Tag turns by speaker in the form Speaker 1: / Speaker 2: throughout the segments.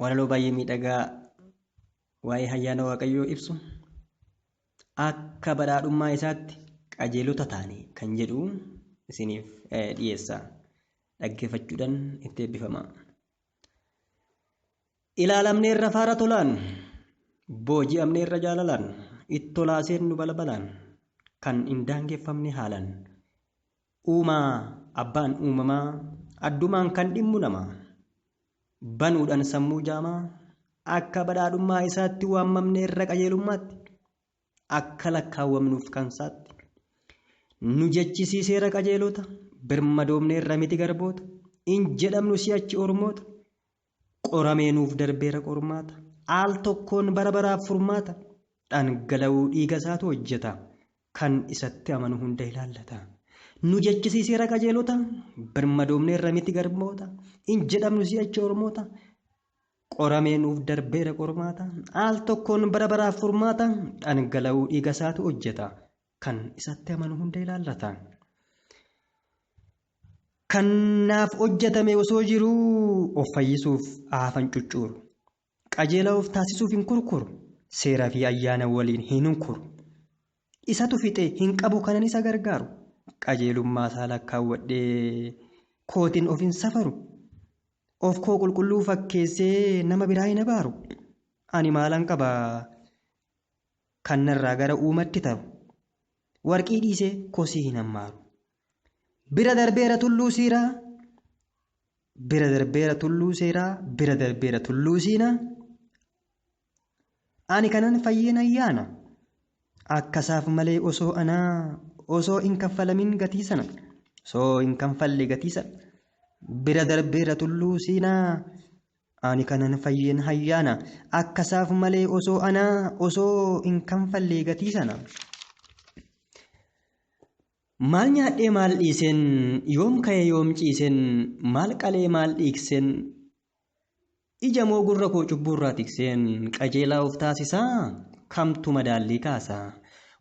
Speaker 1: walaloo baay'ee miidhagaa waa'ee hayyaana waaqayyoo ibsu akka badhaadhummaa isaatti qajeelota taane kan jedhu isiniif dhiyeessa dhaggeeffachuudhaan itti eebbifama. Ilaalamneerra faara tolaan booji'amneerra jaalalaan ittolaaseen nu balbalaan kan hin daangeffamne haalaan Uumaa, Abbaan uumamaa, Addumaan kan dhimmu nama. Banuudhan sammuu jaamaa, Akka badhaadhummaa isaatti Waammamne irra qajeelummaatti, Akka lakkaawwamnuuf kan saatti. Nu jechisiiseera qajeelota, Birmadoomneerra miti garboota, Hin jedhamnu si'achi ormoota, Qoramee nuuf darbeera qormaata. Al tokkoon bara baraaf furmaata. Dhangala'uu dhiiga isaatu hojjeta. Kan isatti amanu hunda ilaallata. Nu jechisiiseera qajeelota. Birmadoomneerra miti garboota. Hin jedhamnu si'achi ormoota. Qoramee nuuf darbeera qormaata. Al tokkoon bara baraaf furmaata. Dhangala'uu dhiiga isaatu hojjeta. Kan isatti amanu hunda ilaallata. Kan naaf hojjetame osoo jiruu of fayyisuuf haafan cuccuuru. Qajeelaa of taasisuuf hin kurkuru. Seeraa fi ayyaana waliin hin hunkuru. Isatu fixe hin qabu kanan isa gargaaru. Qajeelummaa isaa lakkaawwadhee kootiin of hin safaru. Of koo qulqulluu fakkeessee nama biraa hin abaaru. Ani maalan qaba? Kan narraa gara uumatti taru. Warqii dhiisee kosii hin hammaaru. Bira darbeera tulluu siiraa. Bira darbeera tulluu seeraa. Bira darbeera tulluu siinaa. Ani kanan fayyeen ayyaana. Akkasaaf malee osoo anaa osoo hin kaffalamin gatii sana. Osoo hin kanfalle gatii sana. Bira darbeera tulluu siinaa. Ani kanan fayyeen hayyaana. Akkasaaf malee osoo anaa osoo hin kanfallee gatii sana. Maal nyaadhee maal dhiiseen yoom ka'ee yoom ciiseen maal qalee maal dhiikseen ija moo gurra koo cubbuurraa tikseen qajeelaa of taasisaa kamtu madaallii kaasa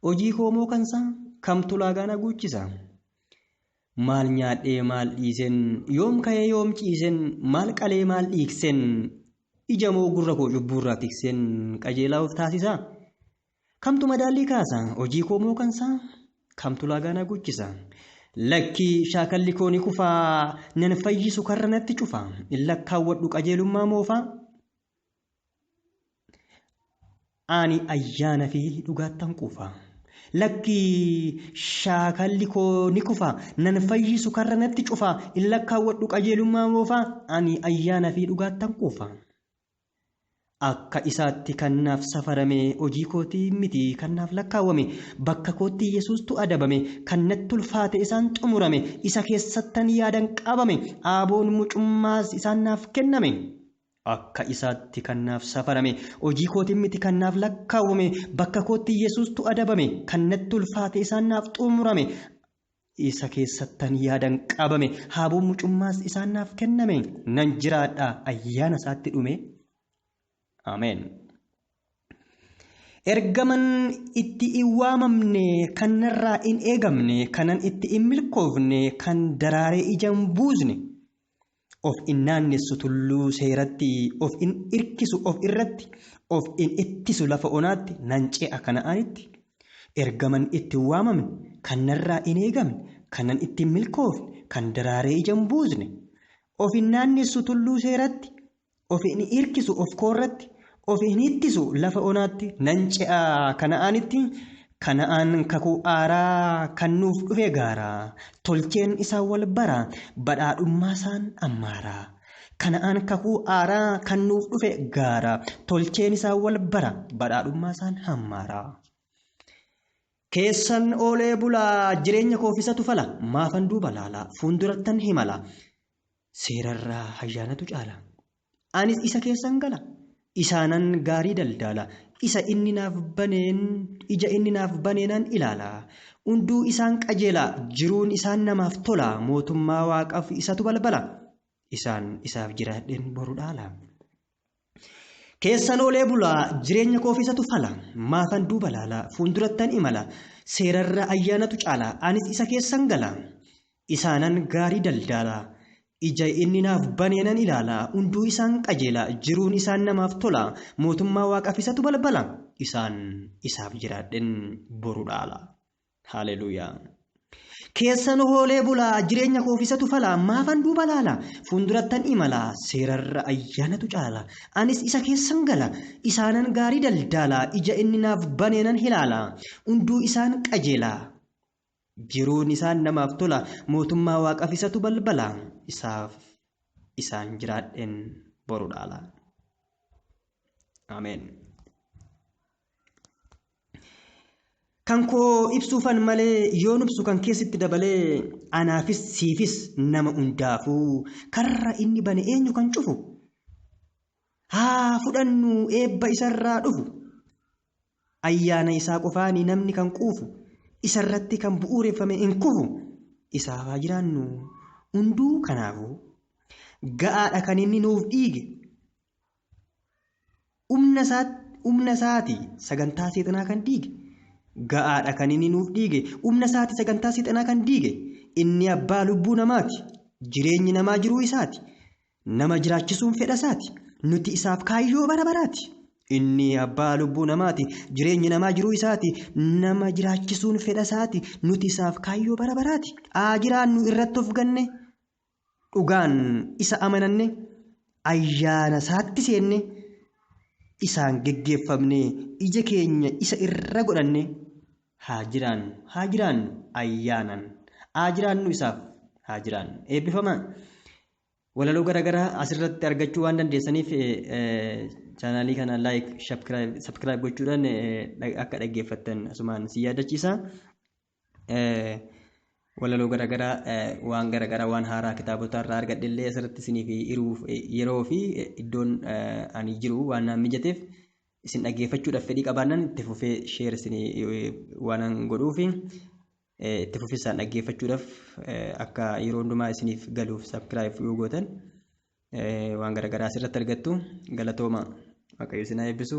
Speaker 1: hojii koo moo kansaa kamtu laagaan haguuchisa. Maal nyaadhee maal dhiisen Yoom ka'ee yoom ciisen Maal qalee maal dhiigsen Ija moo gurra koo cubbuurraa tiksen Qajeelaa of taasisaa? Kamtu madaallii kaasa Hojii koo moo kansaa? Kamtu laagaa na guchisa? Lakkii shaakalli koo ni kufaa Nan fayyisu karra natti cufa Lakkaawwadhu qajeelummaa moofaa? Ani ayyaana fi dhugaattan quufa. Lakki shaakalli koo ni kufa, nan fayyisu karra natti cufa, in lakkaawwadhu qajeelummaa moofa, ani ayyaana fi dhugaattan quufa. Akka isaatti kan naaf safarame, hojii kootii miti kan naaf lakkaawwame, bakka kootti Yesuustu adabame, kan natti ulfaate isaan xumurame, isa keessattan yaadan qabame, aaboon mucummaas isaan naaf kenname. Akka isaatti kan naaf safarame, hojii kootiin miti kan naaf lakkaawwame, bakka kootti Yesuustu adabame, kan natti ulfaate isaan naaf xumurame, isa keessattan yaadan qabame, haaboon mucummaas isaan naaf kenname, nan jiraadha ayyaana isaatti dhume. Ameen. Ergaman itti hin waamamne, kan narraa hin eegamne, kanan itti hin milkoofne, kan daraaree ija hin buusne. of in naannessu tulluu seeratti, of in irkisu of irratti, of in ittisu lafa onaatti, nan ce'a Kana'aanitti. Ergaman itti hin waamamne, kan narraa in eegamne, kanan itti hin milkoofne, kan daraaree ija hin buusne. Of in naannessu tulluu seeratti, Of hin irkisu of koo irratti, of hin ittisu lafa onaatti, nan ce'a Kana'aanitti, Kana'aan kakuu haaraa kan nuuf dhufe gaara, tolcheen isaa wal bara, badhaadhummaasaan ammaara. Kana'aan kakuu haaraa kan nuuf dhufe gaara, tolcheen isaa wal bara, badhaadhummaasaan hammaara. Keessan oolee bulaa, jireenya koof isatu fala, maafan duuba laala, fuuldurattan himala. Seerarraa hayyaanatu caala. Anis isa keessan gala. Isaanan gaarii daldaala. Isa inni naaf baneen ija inni naaf baneenan ilaala. Unduu isaan qajeela, jiruun isaan namaaf tola, mootummaa Waaqaf isatu balbala. Isaan isaaf jiraadheen boru dhaala. Keessan oolee bulaa jireenya koofisatu fala maafan duuba laala fuuldurattan imala seerarra ayyaanatu caala anis isa keessan gala isaanan gaarii daldaala ija inni naaf baneenan ilaala hunduu isaan qajeela jiruun isaan namaaf tola mootummaa waaqafisatu balbala isaan isaaf jiraadhen boru dhaala. Haleluuyaa. Keessan hoolee bulaa jireenya koof isatu fala maafan duuba laala fuuldurattan imala seerarra ayyaanatu caala anis isa keessan gala isaanan gaarii daldaala ija inni naaf baneenan hilaala hunduu isaan qajeela jiruun isaan namaaf tola mootummaa waaqaf isatu balbala isaaf isaan jiraadhen boru dhaala. Ameen. Kan koo ibsuufan malee yoon ibsu kan keessatti dabalee anaafis siifis nama hundaafuu karra inni bane eenyu kan cufu haa fudhannu eebba isarraa dhufu ayyaana isaa qofaanii namni kan quufu isarratti kan bu'uureffame hin kufu isaaf haa jiraannu hunduu kanaafuu ga'aadha kan inni nuuf dhiige Humna isaa humna isaati sagantaa seexanaa kan diige ga'aadha kan inni nuuf dhiige humna isaati sagantaa seexanaa kan diige inni abbaa lubbuu namaati jireenyi namaa jiruu isaati nama jiraachisuun fedha isaati nuti isaaf kaayyoo bara baraati inni abbaa lubbuu namaati jireenyi namaa jiruu isaati nama jiraachisuun fedha isaati nuti isaaf kaayyoo bara baraati haa jiraannu irratti of ganne dhugaan isa amananne ayyaana isaatti seenne isaan geggeeffamne ija keenya isa irra godhanne haa jiraannu haa jiraannu ayyaanaan haa jiraannu isaaf haa jiraannu eebbifamaa walaloo garaagaraa asirratti argachuu waan dandeessaniif chaanaalii kana laayik sabskiraayib gochuudhaan akka dhaggeeffattan asumaan si yaadachiisa. walaloo garagaraa waan garagaraa waan haaraa kitaabota irraa argadhe illee asirratti isiniif hiruuf yeroo fi iddoon ani jiru waan naan mijateef isin dhaggeeffachuudhaaf fedhii qabaannan itti fufee sheer isin waanan godhuuf itti fufisaan dhaggeeffachuudhaaf akka yeroo hundumaa isiniif galuuf sabskiraayif yoo gootan waan garagaraa asirratti argattu galatooma waaqayyo isin haa eebbisu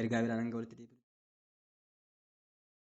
Speaker 1: ergaa biraan hanga walitti deebi'u.